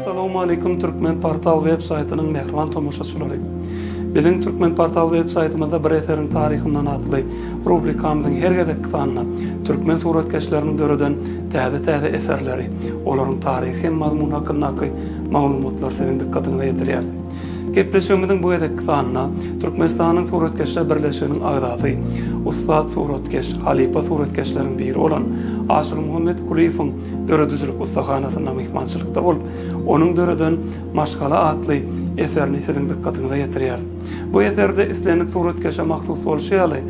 Assalamualeykum Türkmen Portal web saýtynyň mähriban tomaşaçylary. Biziň Türkmen Portal web saýtymyzda Bir eseriň taryhyndan atly rubrikamyzyň her gezekki sanynda türkmen suratkeşleriniň döreden täze-täze eserleri, olaryň taryhy hem mazmuny hakyndaky maglumatlary siziň dykgatyňyza ýetirýäris. Gepleşigimiziň bu gezekki sanynda Türkmenistanyň Suratkeşler birleşiginiň agzasy, ussat suratkeş, halypa suratkeşleriň biri bolan Aşyrmuhammet Kulyýewiň döredijilik ussahanasyna myhmançylykda bolup, onuň döreden Maşgala atly eserini siziň dykgatyňyza ýetirýäris. Bu eserde islendik suratkeşe mahsus bolşy ýaly,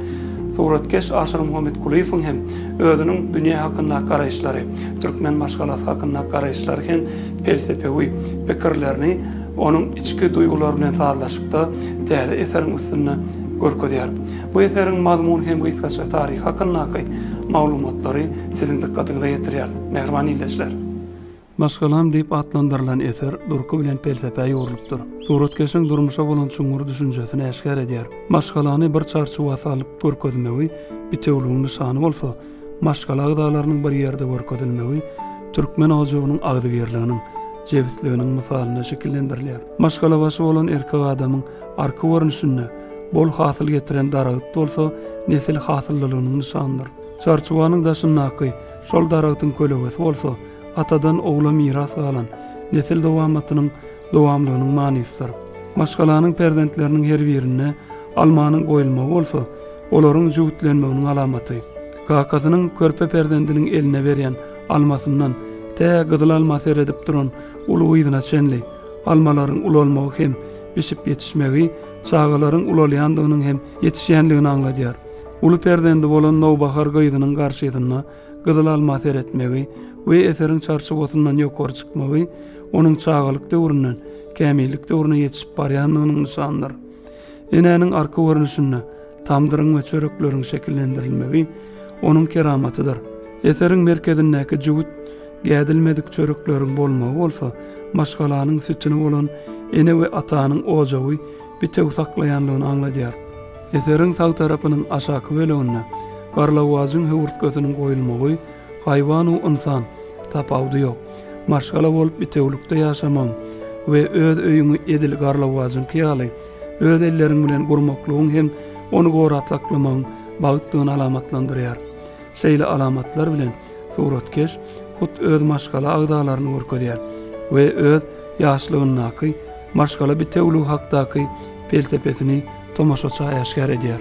suratkeş Aşyrmuhammet Kulyýewiň hem özüniň dünýä hakyndaky garaýyşlary, türkmen maşgalasy hakyndaky garaýyşlary hem pelsepewi pikirlerini Onuň içki duýgulary bilen sazlaşykda täze eseriň üstünde görkezýär. Bu eseriň mazmun hem gysgaça taryhy hakyndaky maglumatlary siziň dykgatyňyza ýetirýäris, mähriban ildeşler. Maşgalam diýip atlandyrylan eser durky bilen pelsepä ýugrulypdyr. Suratkeşiň durmuşa bolan çuňňur düşünjesini äşgär edýär. Maşgalany bir çarçuwa salyp görkezmegi bitewligiň nyşany bolsa, maşgala agzalarynyň bir ýerde görkezilmegi türkmen ojagynyň agzybirliginiň, jebisliginiň mysalynda şekillendirilýär. Maşgalabaşy bolan erkek adamyň arky görnüşinde bol hasyl getiren daragyt bolsa nesil hasyllylygynyň nyşanydyr. Çarçuwanyň daşyndaky şol daragtyň kölegesi bolsa atadan ogla miras galan nesil dowamatynyň dowamlygynyň manysydyr. Maşgalanyň perzentleriniň her birine almanyň goýulmagy bolsa Olaryň jübütlenmeginiň alamaty, kakasynyň körpe perzendiniň eline berýän almasyndan tä gyzyl alma seredip duran uly gyzyna çenli, almalaryň ulalmagy hem bişip ýetişmegi çagalaryň ulalýandygynyň hem ýetişýändigini aňladýar. Uly perzendi bolan nowbahar gyzynyň garşysyna gyzyl alma seretmegi we eseriň çarçuwasyndan ýokary çykmagy onuň çagalyk döwründen kämillik döwrüne ýetişip barýandygynyň nyşanydyr. Enäniň arka görnüşinde tamdyryň we çörekleriň şekillendirilmegi onuň keramatydyr. Eseriň merkezindäki jübüt gädilmedik çörekleriň bolmagy bolsa maşgalanyň sütüni bolan ene we atanyň ojagy bitew saklaýanlygyny aňladýar. Eseriň sag tarapynyň aşaky böleginde garlawajyň höwürtgesiniň goýulmagy Haýwan-u ynsan, tapawudy ýok. Maşgala bolup bitewülikde ýaşamagyň we öz öýüňi edil garlawajyňky ýaly öz elleriň bilen gurmaklygyň hem ony gorap saklamagyň bagtdygyny alamatlandyrýar. Şeýle alamatlar bilen suratkeş hut öz maşgala agzalaryny görkezýär we öz ýaşlygyndaky maşgala bitewüligi hakdaky pelsepesini tomaşaça äşgär edýär.